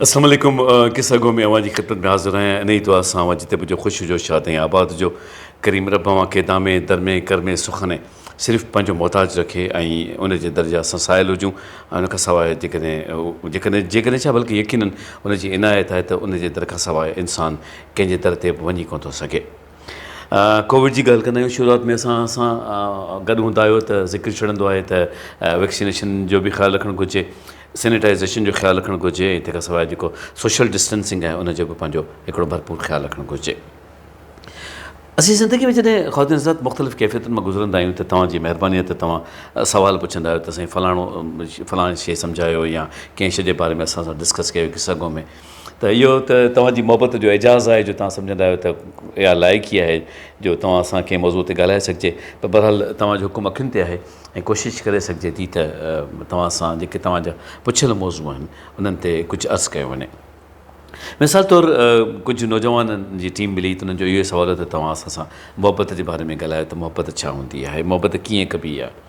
السلام عليڪم قصه گو ۾ اوهان جي خدمت ۾ حاضر آهيان انهي دعا سان اوهان جتي به هجو خوش هجو شاد ۽ آباد هجو ڪريم رب اوهان کي دامين درمين ڪرمين سخنين صرف پنهنجو محتاج رکي ۽ ان جي در جا اسان سائل هجون ۽ ان کان سواء جيڪڏهن جيڪڏهن جيڪڏهن ڇا بلڪه يقينن ان جي عنايت آهي ته ان جي در کان سواء انسان ڪنهن جي در تي به وڃي ڪونه ٿو سگهي ڪووڊ جي ڳالهه ڪندا آهيون شروعات ۾ اسان سان گڏ هوندا آهيو ته ذڪر ڇڙندو آهي ته ويڪسينيشن جو به خيال رکڻ گهرجي سينيٽائزيشن جو خيال رکڻ گهرجي ۽ تنهن کان سواء جيڪو سوشل ڊسٽينسنگ آهي ان جو به پنهنجو هڪڙو ڀرپور خيال رکڻ گهرجي اسين زندگي ۾ جڏهن خواتين حضرات مختلف ڪيفيتن مان گذرندا آهيون ته توهان جي مهرباني آهي ته توهان سوال پڇندا آهيو ته سائين فلاڻو فلاڻي شي سمجهايو يا ڪنهن شي جي باري ۾ اسان سان ڊسڪس ڪيو قصه گو ۾ ته اهو ته توهان جي محبت جو اعجاز آهي جو توهان سمجهندا آهيو ته اها لائق ئي آهي جو توهان سان ڪنهن موضوع تي ڳالهائي سگهجي پر بهرحال توهان جو حڪم اکين تي آهي ۽ ڪوشش ڪري سگهجي ٿي ته توهان سان جيڪي توهان جا پڇيل موضوع آهن انهن تي ڪجهه عرض ڪيو وڃي مثال طور ڪجهه نوجوانن جي ٽيم ملي ته انهن جو اهو سوال هو ته توهان اسان سان محبت جي باري ۾ ڳالهايو ته محبت ڇا هوندي آهي محبت ڪيئن ڪبي آهي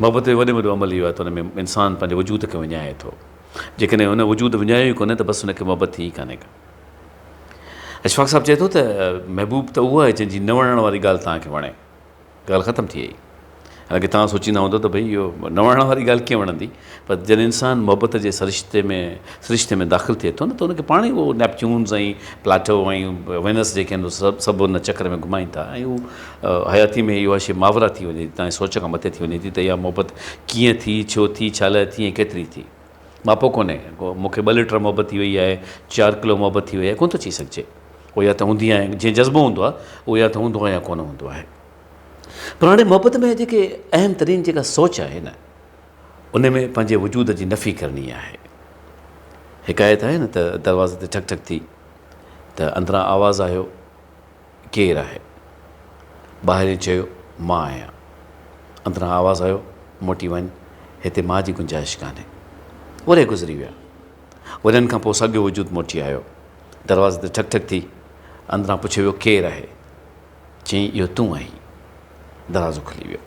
محبت جو وڏي ۾ وڏو عمل اهو آهي ته ان ۾ انسان پنهنجي وجود کي وڃائي ٿو. جيڪڏهن هن وجود وڃايو ئي ڪونهي ته بس هن کي محبت ٿي ئي ڪانهي ڪا. اشفاق صاحب چئي ٿو ته محبوب ته اهو آهي جنهن جي نه وڻڻ واري ڳالهه توهان کي وڻي. ڳالهه ختم ٿي وئي. حالانڪه توهان سوچيندا هوندو ته ڀئي اهو نه وڻڻ واري ڳالهه ڪيئن وڻندي؟ پر جڏهن انسان محبت جي سرشتي ۾ سرشتي ۾ داخل ٿئي ٿو نه ته ان کي پاڻ ئي اهو نيپچونز ۽ پلاٽو ۽ وينس جيڪي آهن سو سڀ ان چڪر ۾ گهمائين ٿا ۽ هو حياتي ۾ اها شيء ماورا ٿي وڃي ٿي تنهنجي سوچ کان مٿي ٿي وڃي ٿي ته اها محبت ڪيئن ٿي ڇو ٿي ڇا لاء ٿي ۽ ڪيتري ٿي ماپو ڪونهي ڪو مون کي ٻه لٽر محبت ٿي وئي آهي چار ڪلو محبت ٿي وئي آهي ڪونه ٿو چئي سگهجي اهو يا ته هوندي آهي جيئن جذبو هوندو آهي اهو يا ته هوندو آهي يا ڪونه هوندو آهي پر هاڻي محبت ۾ جيڪي اهم ترين جيڪا سوچ آهي نه ان ۾ پنهنجي وجود جي نفي ڪرڻي آهي. حڪايت آهي نه ته دروازي تي ٺڪ ٺڪ ٿي ته اندران آواز آيو، ڪير آهي؟ ٻاهرئين چيو، مان آهيان. اندران آواز آيو، موٽي وڃ، هتي مان جي گنجائش ڪانهي. ورهيه گذري ويا. ورهين کان پوء ساڳيو وجود موٽي آيو. دروازي تي ٺڪ ٺڪ ٿي. اندران پڇيو ويو، ڪير آهي؟ چيائين اهو تون آهين دروازو کلي ويو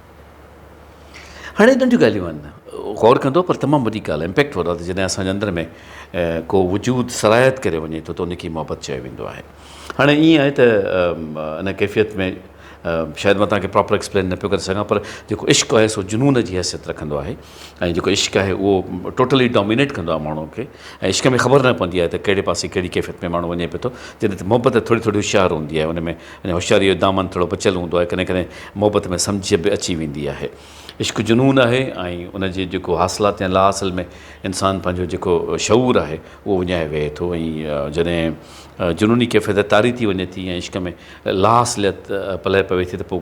هاڻي ننڍيون ڳالهيون آهن غور ڪندو پر تمام وڏي ڳالهه امپيڪٽ وڏو ته جڏهن اسان جي اندر ۾ ڪو وجود سرايت ڪري وڃي ٿو ته ان کي محبت چيو ويندو آهي هاڻي ائين آهي ته ان ڪيفيت ۾ شايد مان توهان کي پراپر ايڪسپلين نه پيو ڪري سگهان پر جيڪو عشق آهي سو جنون جي حيثيت رکندو آهي ۽ جيڪو عشق آهي اهو ٽوٽلي ڊامينيٽ ڪندو آهي ماڻهوء کي ۽ عشق ۾ خبر نه پوندي آهي ته ڪهڙي پاسي ڪهڙي ڪيفيت ۾ ماڻهو وڃي پيو ٿو جڏهن ته محبت ته ٿوري ٿوري هوشيار هوندي آهي ان ۾ ان هوشياريء جو دامن ٿورو بچيل هوندو آهي ڪڏهن ڪڏهن محبت ۾ سمجهه به اچي ويندي آهي عشق جنون آهي ۽ ان جي جيڪو حاصلات يا لا حاصل ۾ انسان پنهنجو جيڪو شعور آهي اهو وڃائي ويهي ٿو ۽ جڏهن جنوني ڪيفيت طاري ٿي وڃي ٿي ۽ عشق ۾ لا حاصليت پلئه پوي ٿي ته پوء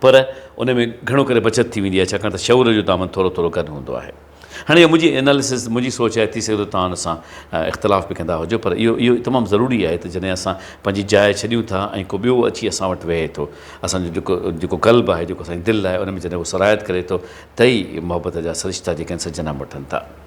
پر ان ۾ گهڻو ڪري بچت ٿي ويندي آهي ڇاڪاڻ ته شعور جو دامن ٿورو ٿورو گڏ هوندو آهي. هاڻي اهو منهنجي اناليسز منهنجي سوچ آهي ٿي سگهي ٿو توهان ان سان اختلاف به ڪندا هجو پر اهو اهو تمام ضروري آهي ته جڏهن اسان پنهنجي جاء ڇڏيون ٿا ۽ ڪو ٻيو اچي اسان وٽ ويهي ٿو اسان جو جيڪو جيڪو قلب آهي جيڪو اسان جي دل آهي ان ۾ جڏهن اهو سرايت ڪري ٿو ته ئي محبت جا سرشتا جيڪي آهن سا جنم وٺن ٿا.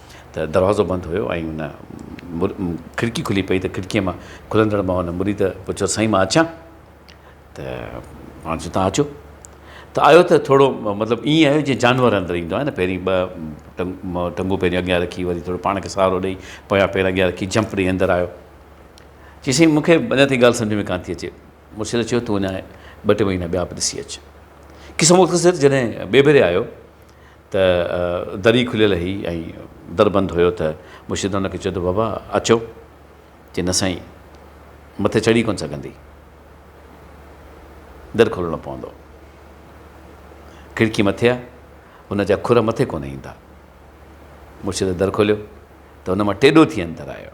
ته دروازو بند هيو ۽ ان کڙڪي کلي پئي ته کڙڪيء مان کلندڙ مان ان مريد پڇيو سائين مان اچان ته پاڻ چيو تان اچو ته آيو ته ٿورو مطلب ائين آيو جيئن جانور اندر ايندو آهي نه پهرين ٻه ٽنگون پهرين اڳيان رکي وري ٿورو پاڻ کي سهارو ڏئي پويان پير اڳيان رکي جمپ ڏئي اندر آيو چي سائين مون کي اڃا تائين ڳالهه سمجھ ۾ ڪانه ٿي اچي مرشد چيو تون اڃا ٻه ٽي مهينا ٻيا به ڏسي اچ قصو مختصر جڏهن ٻئي ڀيري آيو ته دري کليل هئي ۽ در بند هيو ته مرشد هن کي چيو ته بابا اچو چي نه سائين مٿي چڙهي ڪونه سگهندي در کولڻو پوندو کڙڪي مٿي آهي هن جا کر مٿي ڪونه ايندا مرشد در کوليو ته هن مان ٽيڏو ٿي اندر آيو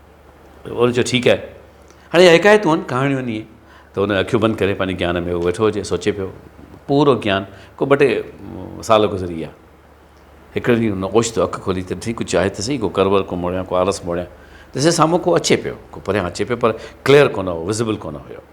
چيو ٺيڪ آهي هاڻي اها حڪايتون آهن ڪهاڻيون آهن ائين ته هن اکيون بند ڪري پنهنجي گيان ۾ هو ويٺو هجي سوچي پيو پورو گيان ڪو ٻه ٽي سال گذري ويا هڪڙي ڏينهن هن اوچتو اک کولي ته ٺيڪ ڪجهه آهي ته سهي ڪو ڪرور ڪو موڙيان ڪو آلس موڙيان ڏسي سامهون ڪو اچي پيو ڪو پريان اچي پيو پر ڪليئر ڪونه هو وزبل ڪونه هيو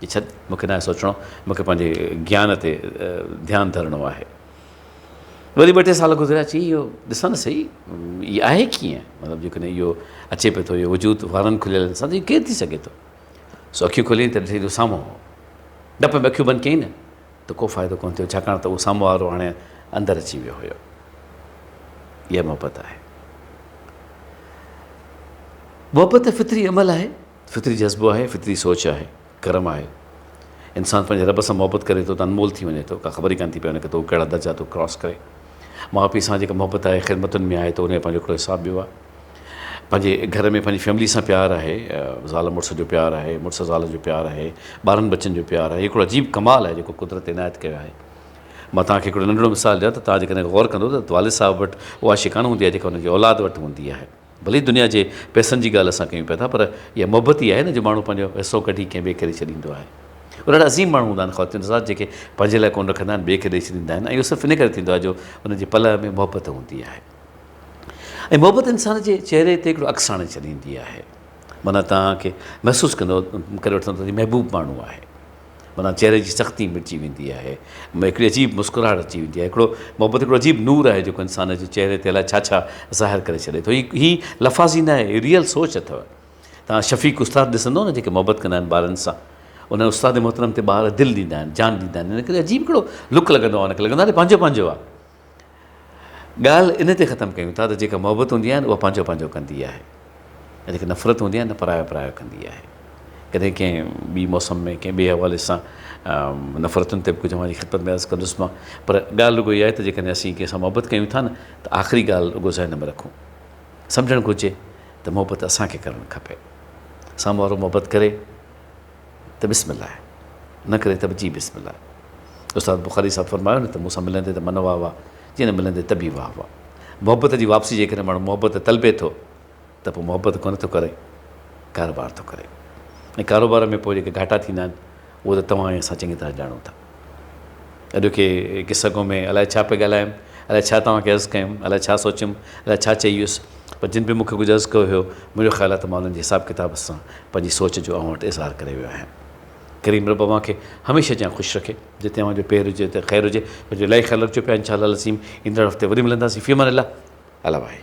جي ڇڏ، مون کي ناهي سوچڻو، مون کي پنهنجي گيان تي ڌيان ڌرڻو آهي. وري ٻه ٽي سال گذريا، چيائين اهو ڏسان ته سهي، هي آهي ڪيئن؟ مطلب جيڪڏهن اهو اچي پئي ٿو، اهو وجود وارن کليلن سان ته اهو ڪير ٿي سگهي ٿو؟ سو اکيون کوليائين ته ڏٺائين ته اهو سامهون هو. ڊپ ۾ اکيون بند ڪيائين نه ته ڪو فائدو ڪونه ٿيو، ڇاڪاڻ ته اهو سامهون وارو هاڻي اندر اچي ويو هيو. اها محبت آهي. محبت فطري عمل آهي. فطري جذبو آهي، فطري سوچ آهي، ڪرم آهي. انسان پنهنجي رب سان محبت ڪري ٿو ته انمول ٿي وڃي ٿو، ڪا خبر ئي ڪانه ٿي پئي وڃي ته هو ڪهڙا درجا ٿو ڪراس ڪري. ماء پيء سان جيڪا محبت آهي، خدمتن ۾ آهي ته ان جو پنهنجو هڪڙو حساب ٻيو آهي. پنهنجي گهر ۾ پنهنجي فيملي سان پيار آهي، زال مڙس جو پيار آهي، مڙس زال جو پيار آهي، ٻارن ٻچن جو پيار آهي، هي هڪڙو عجيب ڪمال آهي جيڪو قدرت عنايت ڪيو آهي. مان توهان کي هڪڙو ننڍڙو مثال ڏيان ته توهان جيڪڏهن غور ڪندو ته والد صاحب وٽ اها شي ڪانه هوندي آهي جيڪا هن جي اولاد وٽ هوندي آهي. ڀلي هي دنيا جي پئسن جي ڳالهه اسان ڪيون پيا ٿا پر اها محبت ئي آهي نه جو ماڻهو پنهنجو حصو ڪڍي ڪنهن ٻئي کي ڏئي ڇڏيندو آهي. اهڙا ڏاڍا عظيم ماڻهو هوندا آهن خواتين حضرات جيڪي پنهنجي لاء ڪونه رکندا آهن ٻئي کي ڏئي ڇڏيندا آهن ۽ اهو صرف ان ڪري ٿيندو آهي جو ان جي پلئه ۾ محبت هوندي آهي ۽ محبت انسان جي چهري تي هڪڙو عڪس آڻي ڇڏيندي آهي معنيٰ توهان کي محسوس ڪندو ڪري وٺندو ته هي محبوب ماڻهو آهي. منا چهري جي سختي مٽجي ويندي آهي ۾ هڪڙي عجيب مسڪراهٽ اچي ويندي آهي هڪڙو محبت هڪڙو عجيب نور آهي جيڪو انسان جي چهري تي الائي ڇا ڇا ظاهر ڪري ڇڏي ٿو هي هي لفاظي نه آهي هي ريئل سوچ اٿو تان شفيق استاد ڏسندو نه جيڪي محبت ڪندا آهن ٻارن سان انهن استاد محترم تي ٻار دل ڏيندا آهن جان ڏيندا آهن ان ڪري عجيب هڪڙو لڪ لڳندو آهي ان کي لڳندو آهي پنهنجو پنهنجو آهي ڳالهه ان تي ختم ڪيون ٿا ته جيڪا محبت هوندي آهي نه اها پنهنجو پنهنجو ڪندي آهي ۽ جيڪا نفرت هوندي آهي نه پرايو پرايو ڪندي آهي ڪڏهن ڪنهن ٻي موسم ۾ ڪنهن ٻئي حوالي سان نفرتن تي به ڪجهه اوهان جي خدمت ۾ عرض ڪندس مان پر ڳالهه رڳو اها آهي ته جيڪڏهن اسين ڪنهن سان محبت ڪيون ٿا نه ته آخري ڳالهه رڳو ذهن ۾ رکون سمجهڻ گهرجي ته محبت اسان کي ڪرڻ کپي سامهون وارو محبت ڪري ته بسم الله نه ڪري ته به جي بسم الله استاد بخاري صاحب فرمايو نه ته مون سان ملندي ته من واهه واهه جي نه ملندي ته به واهه واهه محبت جي واپسي جيڪڏهن ماڻهو محبت طلبي ٿو ته پوء محبت ڪونه ٿو ڪري ڪاروبار ٿو ڪري ۽ ڪاروبار ۾ پوء جيڪي گهاٽا ٿيندا آهن اهو ته توهان ۽ اسان چڱي طرح ڄاڻون ٿا اڄ کي قصه گو ۾ الائي ڇا پئي ڳالهايم الائي ڇا توهان کي عرض ڪيم الائي ڇا سوچيم الائي ڇا چئي ويس پر جن به مونکي ڪجهه عرض ڪيو هيو منهنجو خيال آهي ته مان انهن جي حساب ڪتاب سان پنهنجي سوچ جو اوهان وٽ اظهار ڪري ويو آهيان ڪريم رب اوهان کي هميشه جيان خوش رکي جتي اوهان جو پير هجي اتي خير هجي پر جو الائي خيال رکجو پيا انشاء الله العظيم ايندڙ هفتي وري ملنداسين في امان الله الله واهي